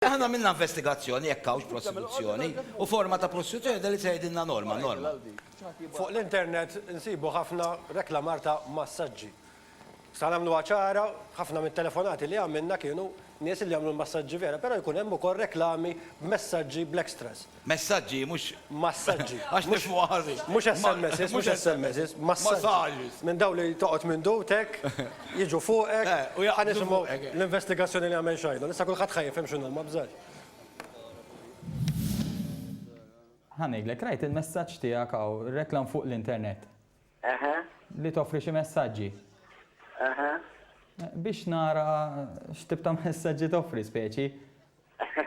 Aħna għamilna investigazzjoni jekk hawnx prosekuzzjoni u forma ta' prosekuzzjoni dan li qed tgħidilna Norma, Norma. Fuq l-internet insibu ħafna reklamar ta' massaġġi. Sa nagħmluha ċara, ħafna mit-telefonati li għamilna kienu nies li jagħmlu l-massaġġi vera, però jkun hemm ukoll reklami b'messaġġi bl-extras. Messaġġi, mhux. Massaġġi. Għax nifhmuha ħażin. Mhux SMSs, mhux SMSs, massaġġi. Minn dawn li toqgħod minn dudtek, jiġu fuqek. Eh, u jaqbdu fuqek. Ħa nisimgħu l-investigazzjoni li għamel Shiloh. Issa kulħadd ħa jifhem x'inhu, ma bżax. Ħa ngħidlek, rajt il-messaġġ tiegħek hawn, reklam fuq l-internet. Eħe. Li toffri xi messaġġi. Eħe. Biex nara x'tip ta' messaġġi toffri speċi.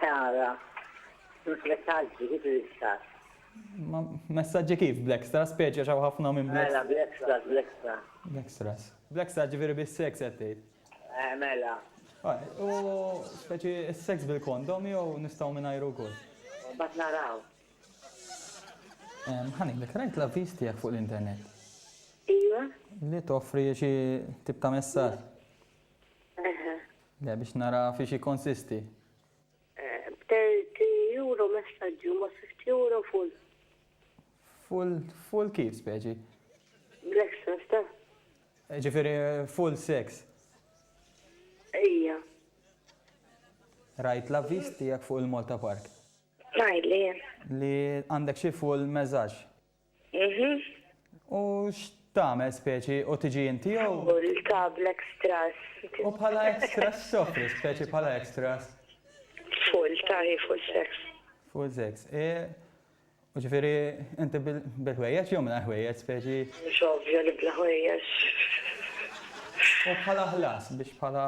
Ara, messaġġi kif l-istess. Ma messaġġi kif bl-extra, speċi għax hawn ħafna minn bl-extra. Mela, bl-extra, bl-extra. Bl-extras. Bl-extra ġifieri bis-seks qed tgħid. Eh, mela. U speċi s-seks bil-kondom jew nistgħu mingħajru wkoll? Mbagħad naraw. Ħa ngħidlek, rajt l-avviż tiegħek fuq l-internet. Ejwa. Li toffri xi tip ta' messaġġ. Le, biex nara fiex jikkonsisti. B'30 euro messaġġi u ma' 50 euro full. Full, full kif speċi? Bl-extras ta'. Ġifieri full sex. Ejja. Rajt l-avviż tiegħek fuq il-Malta Park. Ngħidli jien. Li għandek xi full messaġġ. Mhm. U x'tagħmel speċi u tiġi inti jew. Tħoll ta' bl-extras. U bħala extras x'toffri speċi bħala extras? Full, taħi full sex. Full sex. U ġifieri inti bil-ħwejjeġ jew mingħajr ħwejjeġ speċi? Mhux ovvja li bla ħwejjeġ. U bħala ħlas biex bħala.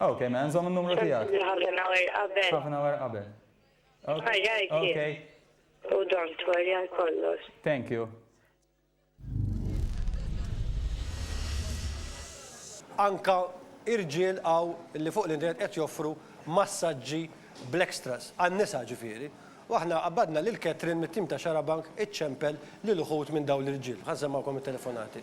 Ok, mela nżomm in-numru tiegħek. Sentni half an hour qabel. Half an hour qabel. Ħajjajt jien. Okay. U don't worry għal kollox. Thank you. Anka irġiel hawn li fuq l-internet qed joffru massaġġi bl-extras, għan-nisa ġifieri. U aħna qabbadna lil Catherine mit-tim ta' Xarabank iċċempel lil uħud minn dawn l-irġiel. Ħa nsemmgħukom it-telefonati.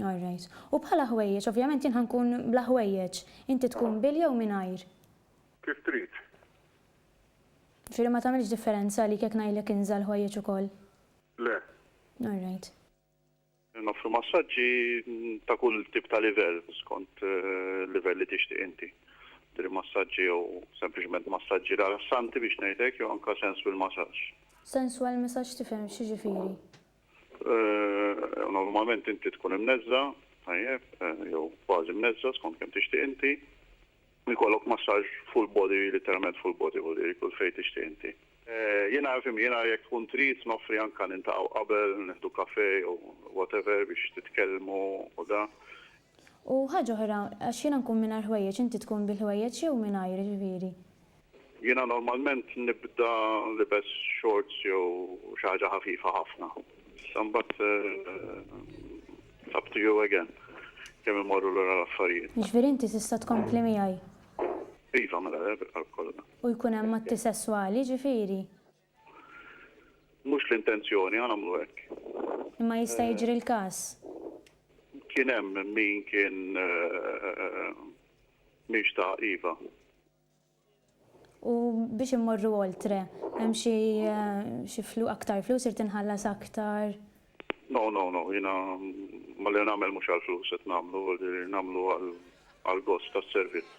All right. U bħala ħwejjeġ, ovvjament jien ħa nkun bla ħwejjeġ. Inti tkun bil jew mingħajr? Kif trid. Jiġifieri ma tagħmilx differenza għalik jekk ngħidlek inża' l-ħwejjeġ ukoll? Le. All right. Noffru massaġġi ta' kull tip ta' livell skont il-livell li tixtieq inti. Jiġifieri massaġġi jew sempliċement massaġġi rilassanti biex ngħidlek jew anke sensual massage. Sensual massage tifhem x'jiġifieri? Normalment inti tkun imneżża', tajjeb, jew kważi mneżża' skont kemm tixtieq inti. Ikollok massaġġ full body, litteralment full body, jiġifieri kull fejn tixtieq inti. Jiena, fhimni, jiena jekk tkun trid noffri anke niltaqgħu qabel, nieħdu kafè jew whatever biex titkellmu u da. U ħaġa oħra, għax jiena nkun mingħajr ħwejjeġ, inti tkun bil-ħwejjeġ jew mingħajr, jiġifieri. Jiena normalment nibda libes shorts jew xi ħaġa ħafifa ħafna. Issa mbagħad it's up to you again kemm imorru lura l-affarijiet. Jiġifieri inti tista' tkompli miegħi? Iva, mela le, bil-qalb kollha. U jkun hemm atti sesswali, jiġifieri? Mhux l-intenzjoni għal għamlu hekk. Imma jista' jiġri l-każ. Kien hemm min kien mhix ta' iva. U biex immorru oltre, hemm xi xi flu aktar flus irid inħallas aktar? No, no, no, jiena ma li nagħmel mhux għall-flus qed nagħmlu, nagħmlu għall-gost tas-servizz.